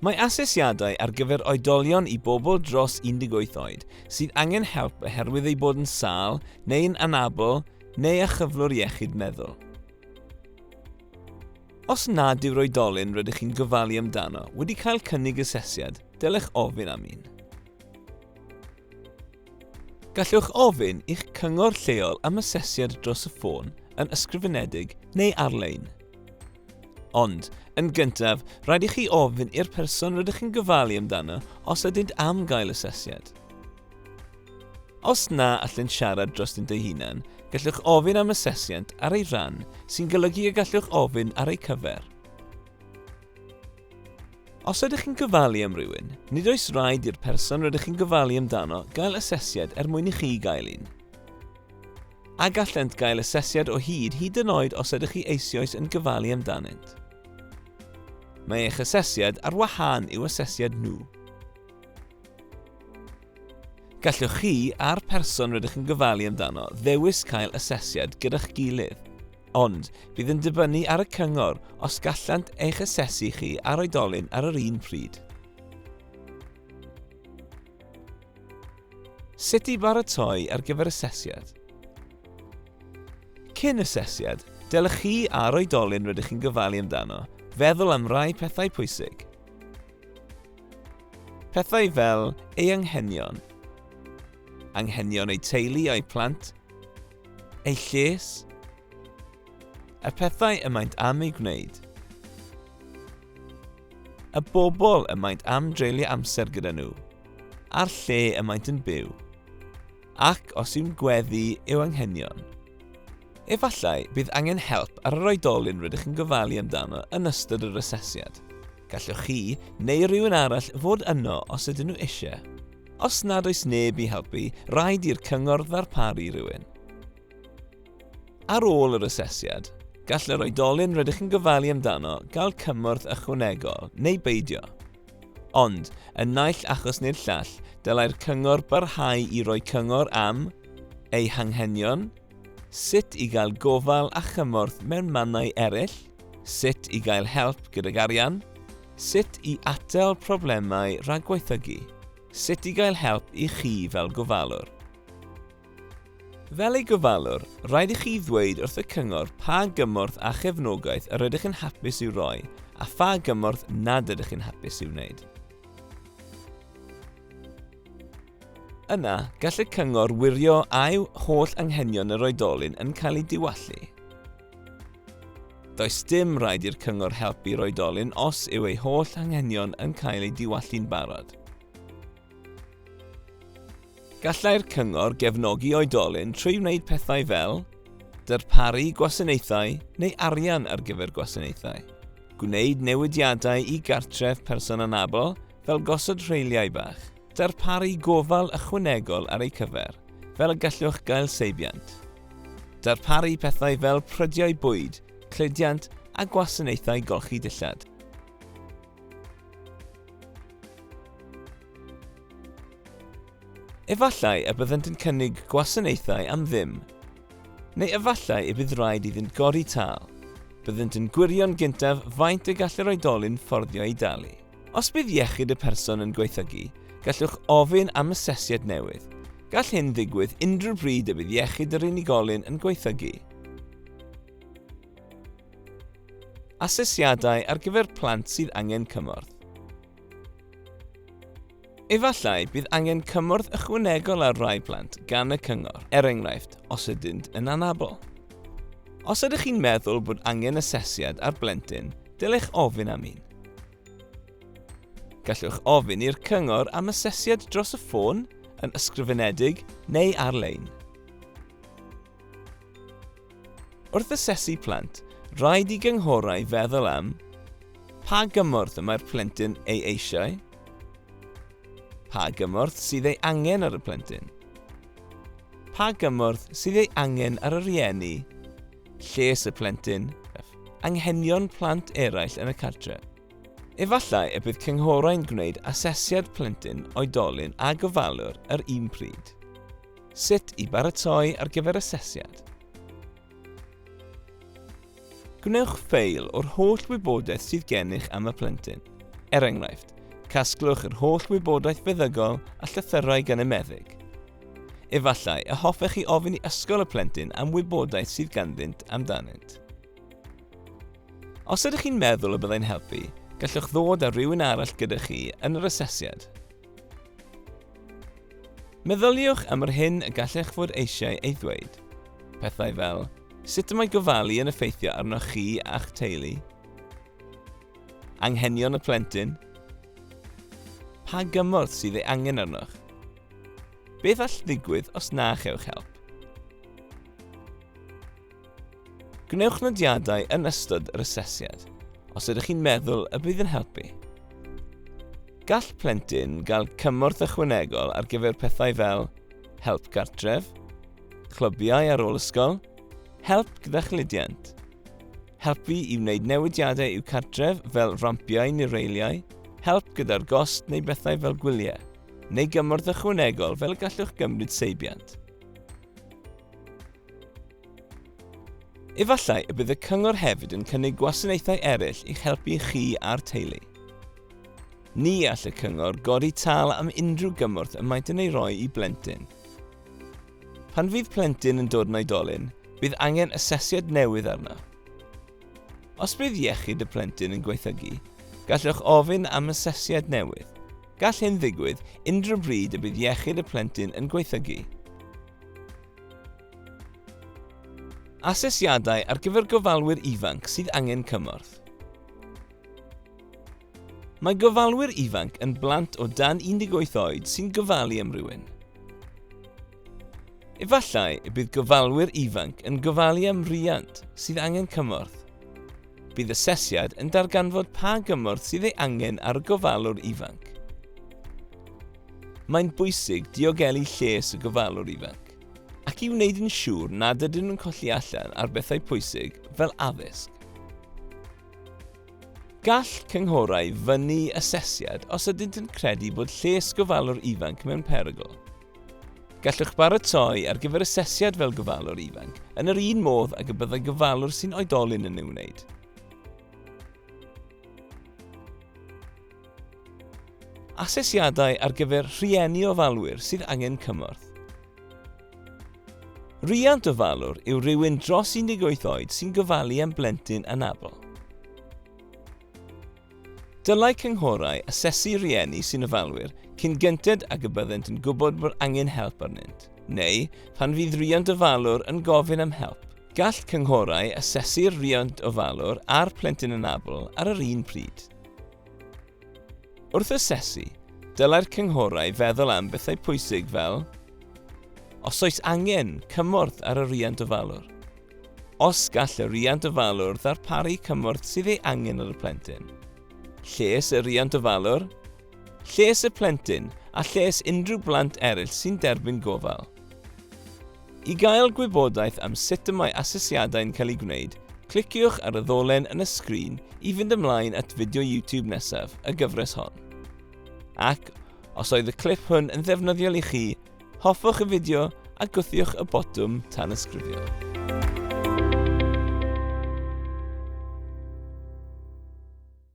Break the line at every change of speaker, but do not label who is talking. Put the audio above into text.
Mae asesiadau ar gyfer oedolion i bobl dros 18 oed sydd angen help oherwydd eu bod yn sâl neu yn anabl neu â chyflwr iechyd meddwl. Os nad yw'r oedolyn rydych chi'n gofalu amdano wedi cael cynnig asesiad, dylech ofyn am un. Gallwch ofyn i'ch cyngor lleol am asesiad dros y ffôn, yn ysgrifenedig neu ar-lein. Ond, yn gyntaf, rhaid i chi ofyn i'r person rydych chi'n gofalu amdano os ydynt am gael asesiad. Os na allent siarad drostynt eu hunan, gallwch ofyn am asesiant ar ei ran, sy'n golygu y gallwch ofyn ar eu cyfer. Os ydych chi'n gofalu am rywun, nid oes rhaid i'r person rydych chi'n gofalu amdano gael asesiad er mwyn i chi gael un. A gallent gael asesiad o hyd hyd yn oed os ydych chi eisioes yn gofalu amdanynt. Mae eich asesiad ar wahân i'w asesiad nhw. Gallwch chi a'r person rydych yn gofalu amdano ddewis cael asesiad gyda'ch gilydd, ond bydd yn dibynnu ar y cyngor os gallant eich asesu chi a'r oedolyn ar yr un pryd. Sut i baratoi ar gyfer asesiad. Cyn asesiad, dylech chi a'r oedolyn rydych chi'n gofalu amdano feddwl am rai pethau pwysig. Pethau fel ei anghenion, anghenion eu teulu a'i plant, eu lles, y pethau y maent am ei gwneud. Y bobl y maent am dreulio amser gyda nhw, a'r lle y maent yn byw, ac os yw'n gweddu yw anghenion. Efallai bydd angen help ar yr oedolyn rydych yn gofalu amdano yn ystod yr asesiad. Gallwch chi neu rhywun arall fod yno os ydyn nhw eisiau. Os nad oes neb i helpu, rhaid i'r cyngor ddarparu rhywun. Ar ôl yr asesiad, gall yr oedolyn rydych yn gofalu amdano gael cymorth ychwanegol neu beidio. Ond, yn naill achos neu'r llall, dylai'r cyngor barhau i roi cyngor am eu hanghenion, sut i gael gofal a chymorth mewn mannau eraill, sut i gael help gydag arian, sut i atal problemau rhag gwaethygu, sut i gael help i chi fel gofalwr. Fel ei gofalwr, rhaid i chi ddweud wrth y cyngor pa gymorth a chefnogaeth yr ydych yn hapus i'w roi a pha gymorth nad ydych chi'n hapus i'w wneud. Yna, gall y cyngor wirio a yw holl anghenion yr oedolyn yn cael eu diwallu. Does dim rhaid i'r cyngor helpu'r oedolyn os yw ei holl anghenion yn cael eu diwallu'n barod. Gallai'r cyngor gefnogi oedolyn trwy wneud pethau fel darparu gwasanaethau neu arian ar gyfer gwasanaethau, gwneud newidiadau i gartref person anabl fel gosod rheiliau bach, darparu gofal ychwanegol ar eu cyfer, fel y gallwch gael seibiant, darparu pethau fel prydiau bwyd, cludiant a gwasanaethau golchi dillad. Efallai y byddant yn cynnig gwasanaethau am ddim. Neu efallai y bydd rhaid iddynt godi tâl. Byddant yn gwirio'n gyntaf faint y gall yr oedolyn fforddio ei dalu. Os bydd iechyd y person yn gwaethygu, gallwch ofyn am asesiad newydd. Gall hyn ddigwydd unrhyw bryd y bydd iechyd yr unigolyn yn gwaethygu. Asesiadau ar gyfer plant sydd angen cymorth. Efallai bydd angen cymorth ychwanegol ar rai plant gan y cyngor, er enghraifft, os ydynt yn anabl. Os ydych chi'n meddwl bod angen asesiad ar blentyn, dylech ofyn am un. Gallwch ofyn i'r cyngor am asesiad dros y ffôn, yn ysgrifenedig neu ar-lein. Wrth asesu plant, rhaid i gynghorau feddwl am pa gymorth y mae'r plentyn ei eisiau, pa gymorth sydd ei angen ar y plentyn, pa gymorth sydd ei angen ar y rhieni, lles y plentyn, anghenion plant eraill yn y cartref. Efallai y bydd cynghorau'n gwneud asesiad plentyn, oedolyn a gofalwr yr un pryd. Sut i baratoi ar gyfer asesiad. Gwnewch ffeil o'r holl wybodaeth sydd gennych am y plentyn. Er enghraifft, casglwch yr holl wybodaeth feddygol a llythyrau gan y meddyg. Efallai y hoffech chi ofyn i ysgol y plentyn am wybodaeth sydd ganddynt amdanynt. Os ydych chi'n meddwl y byddai'n helpu, gallwch ddod â rhywun arall gyda chi yn yr asesiad. Meddyliwch am yr hyn y gallech fod eisiau ei ddweud. Pethau fel, sut y mae gofalu yn effeithio arnoch chi a'ch teulu? Anghenion y plentyn? Pa gymorth sydd ei angen arnoch? Beth all ddigwydd os na chewch help? Gwnewch nodiadau yn ystod yr asesiad os ydych chi'n meddwl y bydd yn helpu. Gall plentyn gael cymorth ychwanegol ar gyfer pethau fel help gartref, clybiau ar ôl ysgol, help gyda chludiant, helpu i wneud newidiadau i'w cartref fel rampiau neu reiliau, help gyda'r gost neu bethau fel gwyliau, neu gymorth ychwanegol fel y gallwch gymryd seibiant. Efallai y bydd y cyngor hefyd yn cynnig gwasanaethau eraill i'ch helpu chi a'r teulu. Ni all y cyngor godi tâl am unrhyw gymorth y maent yn ei roi i blentyn. Pan fydd plentyn yn dod yn oedolyn, bydd angen asesiad newydd arno. Os bydd iechyd y plentyn yn gwaethygu, gallwch ofyn am asesiad newydd. Gall hyn ddigwydd unrhyw bryd y bydd iechyd y plentyn yn gwaethygu. Asesiadau ar gyfer gofalwyr ifanc sydd angen cymorth. Mae gofalwyr ifanc yn blant o dan 18 oed sy'n gofalu am rywun. Efallai y bydd gofalwyr ifanc yn gofalu am riant sydd angen cymorth. Bydd asesiad yn darganfod pa gymorth sydd ei angen ar y gofalwr ifanc. Mae'n bwysig diogelu lles y gofalwr ifanc, ac i wneud yn siŵr nad ydyn nhw'n colli allan ar bethau pwysig fel addysg. Gall cynghorau fynnu asesiad os ydynt yn credu bod lles gofalwr ifanc mewn perygl. Gallwch baratoi ar gyfer asesiad fel gofalwr ifanc yn yr un modd ag y byddai gofalwr sy'n oedolyn yn ei wneud. Asesiadau ar gyfer rhieni ofalwyr sydd angen cymorth. Rhiant ofalwr yw rhywun dros 18 oed sy'n gofalu am blentyn anabl. Dylai cynghorau asesu rhieni sy'n ofalwyr cyn gynted ag y byddent yn gwybod bod angen help arnynt, neu pan fydd rhiant ofalwr yn gofyn am help. Gall cynghorau asesu'r rhiant ofalwr a'r plentyn anabl ar yr un pryd. Wrth asesu, dylai'r cynghorau feddwl am bethau pwysig fel, Os oes angen, cymorth ar y rhiant ofalwr. Os gall y rhiant ofalwr ddarparu cymorth sydd ei angen ar y plentyn. Lles y rhiant ofalwr, lles y plentyn a lles unrhyw blant eraill sy'n derbyn gofal. I gael gwybodaeth am sut y mae asesiadau'n cael eu gwneud, cliciwch ar y ddolen yn y sgrin i fynd ymlaen at fideo YouTube nesaf y gyfres hon. Ac, os oedd y clip hwn yn ddefnyddiol i chi, Hoffwch y fideo a gwthiwch y botwm tanysgrifio.